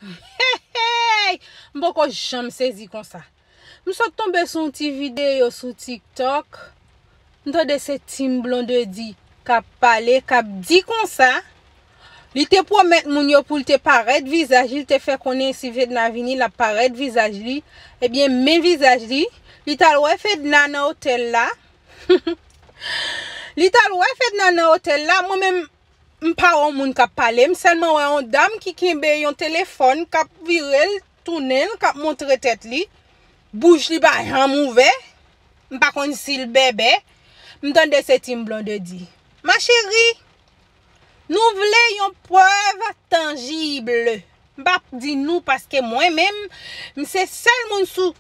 Heheyy m poko janm sezi konsa m sot tonbe sou yon ti video sou tiktok m tande se team blondedy kap pale kap di konsa li te pwomèt moun yo poul te parèt vizaj li li te fè konnen si fedna vini lap parèt vizaj li ebyen men vizaj li li tal wè fedna nan otèl la li tal wè fedna nan otèl la mwen menm M pa wè yon moun kap pale, m sèlman wè yon dam ki kenbe yon telefòn kap vire l tounen l kap montre tèt li, bouch li pa janm ouvè, m pa konn si l bèbè, m tande se Team Blondedy. Ma chérie! Nou vle yon prèv tanjibl M pap di nou paske mwen menm m se sèl moun sou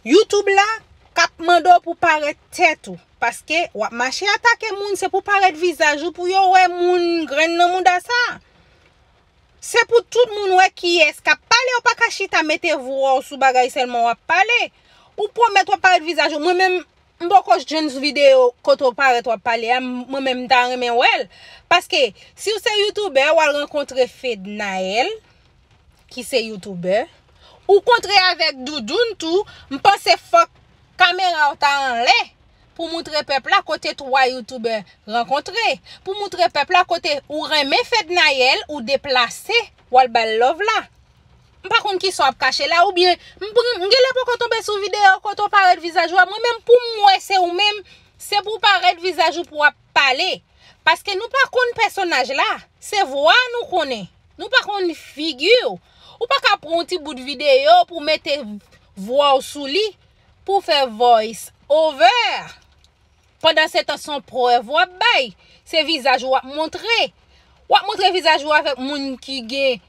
YouTube la kap mande w pou parèt tèt ou paske wap mache atake moun se pou parèt vizaj ou pou yo wè moun grenn nan mouda sa se pou tout moun wè kiyès kap pale ou pa ka chita mete vwa w sou bagay sèlman wap pale ou pwomèt wap parèt vizaj ou mwen menm M poko jwenn sou video kote w parèt wap pale a mwen menm m ta renmen wè l paske si w se youtubè wal rankontre Fednaelle ki se youtubè ou kontre avèk Doudoune tou m panse fòk kamera w ta anlè pou moutre pèp la kote 3 youtubè rankontre pou moutre pèp la kote ou renmen Fednaelle ou deplase wal bal love la. M pa konn kisa w ap kache la oubyen m genlè poko tonbe sou videyo kote w parèt vizaj ou a mwen menm pou m wè se ou menm se pou w parèt vizaj ou pou w ap pale paske nou pa konn pèsonaj la se vwa nou konnen nou pa konn figi w ou pa ka pran yon ti bout videyo pou w mete vwa w sou li pou w fè voice over. Pandan se tan son prèv wap bay, se vizaj ou wap montre. Wap montre vizaj ou avèk moun ki gen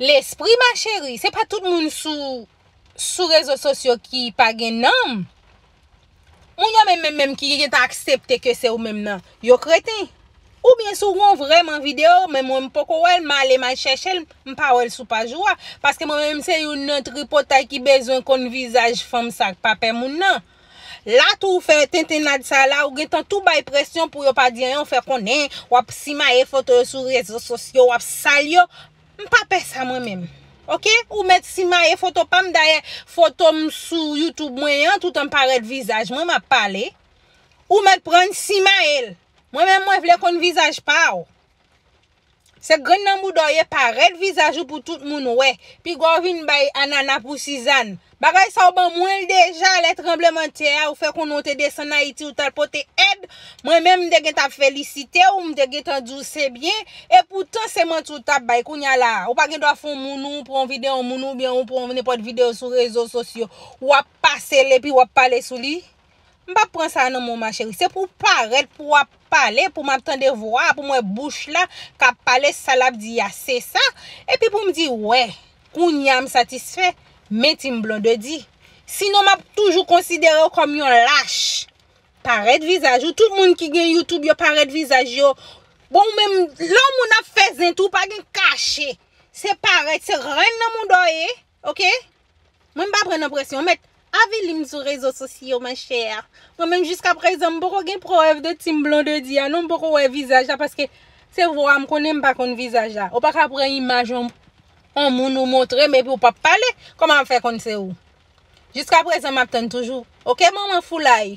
lespri ma cheri. Se pa tout moun sou rezo sosyo ki pa gen nanm. Moun yo menm menm menm ki gen tan aksepte ke se ou menm nan, yo kreten. Ou byen si ou gon vreman video, men mwen m poko wèl, m ale m al chèche l, m pa wèl sou paj ou a. Paske mwen menm se youn nan tripotay ki bezwen konn vizaj fanm sa k pa pè moun nan. La tou ou fè tentennad sa la ou gentan tou bay presyon pou yo pa di anyen ou fè konnen wap simaye foto yo sou rezo sosyo wap sal yo m pa pè sa mwen menm ok ou mèt simaye foto pam dayè foto m sou youtube mwen yan toutan m parèt vizaj mwen map pale ou mèt prann simaye l mwen menm mwen vle konn vizaj pa ou Se grenn nan bouda w ye parèt vizaj ou pou tout moun wè. Piga w vin bay anana pou Sizann. Bagay sa w ban mwen l deja lè tranbleman tè a ou fè konnen w te desann Ayiti ou t al pote èd. Mwen menm m te gentan ap felisite w, m te gentan di w se byen. Epoutan se manti w t ap bay. Kounya la a, ou pa gen dwa fè yon moun ou pran yon videyo yon moun oubyen ou pran nenpòt videyo sou rezo sosyo w ap pase l epi w ap pale sou li. M pap pran sa nan menw ma chérie se pou w parèt pou wap pale pou map tande vwa a pou m wè bouch la kap pale sa lap di a se sa epi pou m di wè kounya m satisfè men team blondedy sinon map toujou konsidere w kòm yon lach parèt vizaj ou tout moun ki gen youtube yo parèt vizaj yo bon ou menm lè w moun ap fè zen tou pa gen kache se parèt se renn nan moun dò ye. Ok Mwen m pa pran nan presyon ou met avili m sou rezo sosyo ma chère Mwen menm jiska prezan m poko gen prèv de team Blondedy a non m poko wè vizaj la paske se vwa m konnen m pa konn vizaj la ou pa ka pran imaj yon yon moun ou montre m epi ou pap pale kòman m ap fè konn se ou jiska prezan m ap tann toujou ok manman foulay.